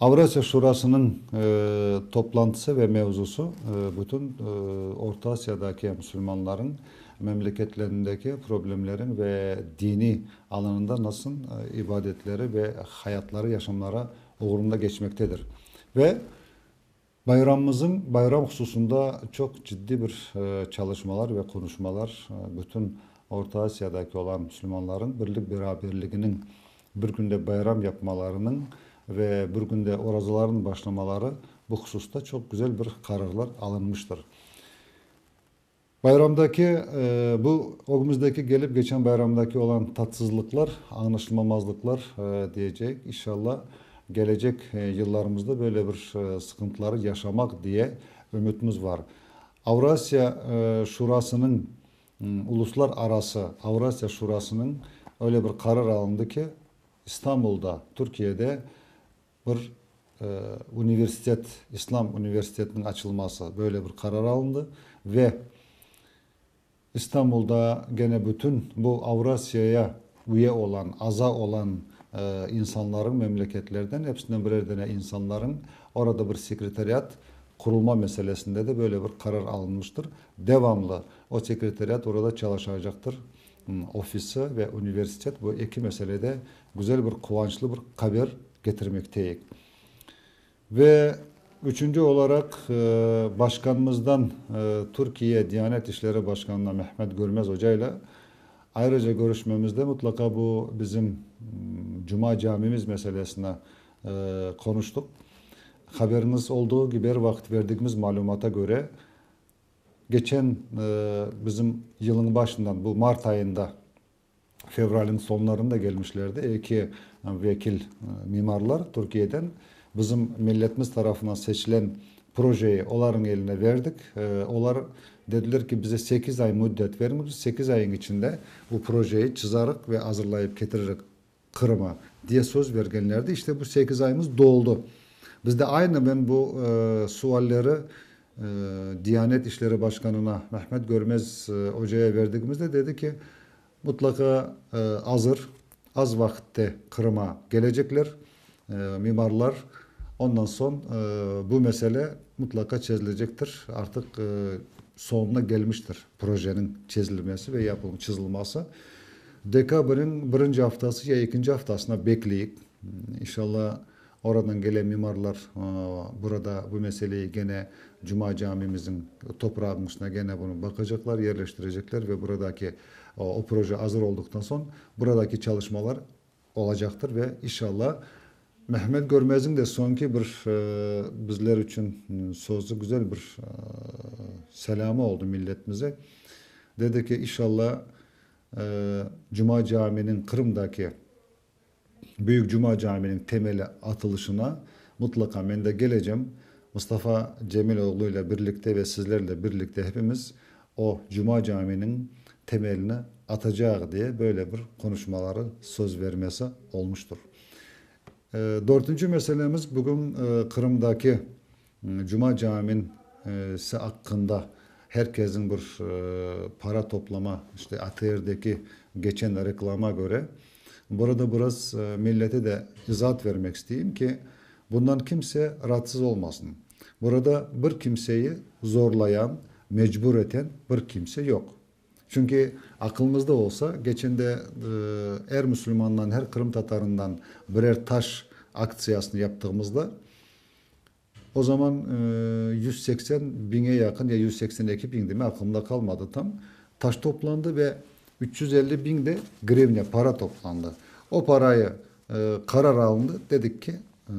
Avrasiya Şurasınıñ toplantısı ve mevzusı bütün Orta Asiyadaki musulmanlarnıñ memleketlerindeki problemleriñ ve diniy alanında nasıl ibadetleri ve hayatları, yaşamları uğrunda geçmektedir ve Bayramımızıñ bayram hususında çoq ciddiy bir çalışmalar ve qonuşmalar bütün Orta Asiyadaki olan müslümanlarıñ birlik-beraberliginiñ, bir künde bayram yapmalarınıñ ve bir künde orazalarınıñ başlamaları bu hususta çoq güzel bir qararlar alınmıştır. Bayramdaki bu, ögümüzdeki kelip keçen bayramdaki olan tatsızlıqlar, añlaşılmamazlıqlar diyeceyik. İnşalla kelecek yıllarımızda böyle bir sıqıntıları yaşamaq diye ümütimiz bar. Avrasiya Şurasınıñ, Uluslar arası Avrasiya Şurasınıñ öyle bir qarar alındı ki, İstanbulda, Türkiyede Bir universitet, İslam universitetiniñ açılması, böyle bir qarar alındı ve İstanbulda gene bütün bu Avrasiyaya üye olan, aza olan insanlarıñ, memleketlerden, episinden birer dene insanlarıñ orada bir sekretariat qurulma meselesinde de böyle bir qarar alınmıştır. Devamlı o sekretariat orada çalışacaqtır. ofisi ve universitet bu eki meselede güzel bir quvançlı bir qaber getirmekteyik. Ve üçünci olaraq başqanımızdan Türkiye Diyanet İşleri Başqanına Mehmet Görmez ocayla ayrıca körüşmemizde mutlaqa bu bizim Cuma camimiz meselesini qonuştuq. Haberiñiz olduğu kibi er vaqıt verdigimiz malümata köre Keçen bizim yılıñ başından, bu mart ayında, fevraliñ soñlarında kelmişlerdi eki vekil mimarlar Türkiyeden. Bizim milletimiz tarafından seçilen projeyi olarnıñ eline berdik. Olar dediler ki, bize sekiz ay müddet beriñiz, biz sekiz ayıñ içinde bu projeyi çızarıq ve azırlayıp ketiririk. Qırım'a, diye söz bergenlerdi. İşte bu sekiz ayımız doldu. Bizde aynı men bu sualleri Diyanet İşleri Başkanına, Mehmet Görmez Oca'ya berdigimizde dedi ki, mutlaqa azır, az vaqitte Qırım'a gelecekler mimarlar, ondan soñ bu mesele mutlaqa çezilecektir, artıq soñuna gelmiştir projeniñ çezilmesi ve yapılması, çızılması. Dekabriñ birinci aftası ya ekinci aftasına bekleyik. İnşalla oradan gelen mimarlar burada bu meseleyi gene Cuma camimizniñ toprağınıñ üstüne gene bunı baqacaqlar, yerleştirecekler ve buradaki o proje azır olduqtan soñ buradaki çalışmalar olacaqtır ve inşalla Mehmet Görmezniñ de soñki bir bizler içün sözü, güzel bir selâmı oldı milletimize. Dedi ki, inşalla Cuma caminiñ Qırımdaki Büyük Cuma caminiñ temeli atılışına mutlaqa men de gelecem. Mustafa Cemil oğlu ile birlikte ve sizlerle birlikte hepimiz o Cuma caminiñ temelini atacağıq diye böyle bir qonuşmaları, söz vermesi olmuştur. Dörtünci meselemiz bugün Qırımdaki Cuma cami'nin si aqqında her kesniñ bir para toplama, işte ATR'deki geçen reklama köre, burada biraz millete de izaat vermek isteyim ki, bundan kimse raatsız olmasın. Burada bir kimseyi zorlayan, mecbur eten bir kimse yoq. Çünki aqılımızda olsa, geçende er müslümandan, er qırımtatarından birer taş aktsiyasını yaptığımızda, o zaman yüz seksen biñe yaqın ya yüz seksen eki biñdi mi, aqılımda qalmadı tam, taş toplandı ve üç yüz elli biñ de grivnâ, para toplandı. O parayı qarar alındı, dedik ki,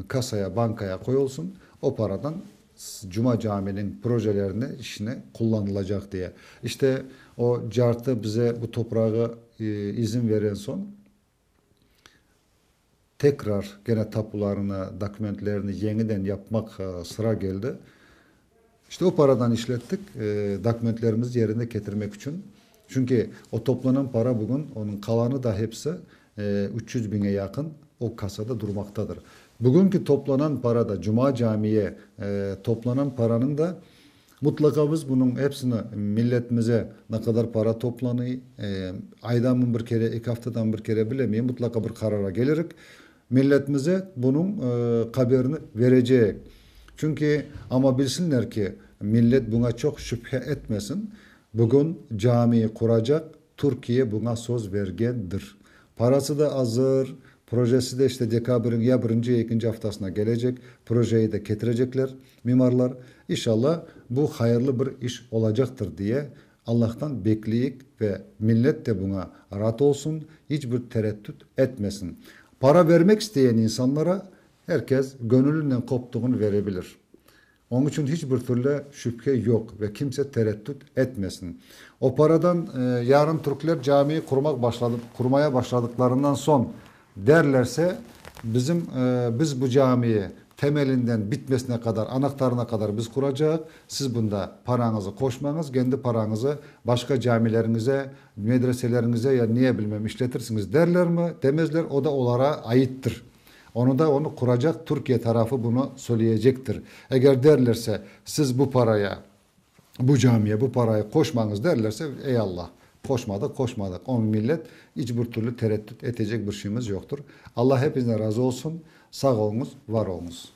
kasaya, bankaya qoyulsın, o paradan Cuma caminiñ projelerini işine qullanılacaq diye. İşte, o cartı bize bu toprağı izin veren soñ, tekrar gene tapularını, dokumentlerini yeñiden yapmaq sıra keldi. İşte, o paradan işlettik, dokumentlerimizni yerine ketirmek içün. Çünki o toplanan para bugün, onıñ qalanı da hepsi Üç yüz biñe yaqın o kasada durmaqtadır. Bugünki toplanan para da, cuma camiye toplanan paranıñ da, mutlaqa biz bunıñ hepsini milletimize ne qadar para toplanıy, aydanmı bir kere, eki aftadanmı bir kere, bilemeyim, mutlaqa bir qarara kelirik, milletimize bunıñ qaberini vereceyik. Çünki, amma bilsinler ki, millet buña çoq şübhe etmesin, bugün camiyi quracaq, Türkiye buña söz bergendir. Parası da azır, projesi de işte dekabriñ ya birinci ya ekinci aftasına kelecek, projeyi de ketirecekler mimarlar. İnşalâ, bu hayırlı bir iş olacaqtır diye Allahtan bekleyik ve millet de buña raat olsun, iç bir tereddüt etmesin. Para bermek isteyen insanlara her kes göñülinen koptuğun verebilir. Oñ içün hiç bir türlü şübhe yoq ve kimse tereddüt etmesin. Operadan yarın türkler cami qurmaq başladı, qurmaya başladıqlarından soñ derlerse, bizim, biz bu camiyi temelinden bitmesine qadar, anahtarına qadar biz quracaq, siz bunda paranızı qoşmañız, kendi paranızı başqa camileriñize, medreseleriñize ya niye bilmem işletirsiñiz derlermi, demezler, o da olara aittir. Onı da onı quracaq Türkiye tarafı bunı söyleyecektir. Eger derlerse, siz bu paraya, bu camiye bu parayı qoşmañız derlerse, ey Allah, qoşmadıq, qoşmadıq. Onı millet iç bir türlü tereddüt etecek bir şeyimiz yoqtır. Allah hepinizden razı olsun, sağ oluñız, var oluñız.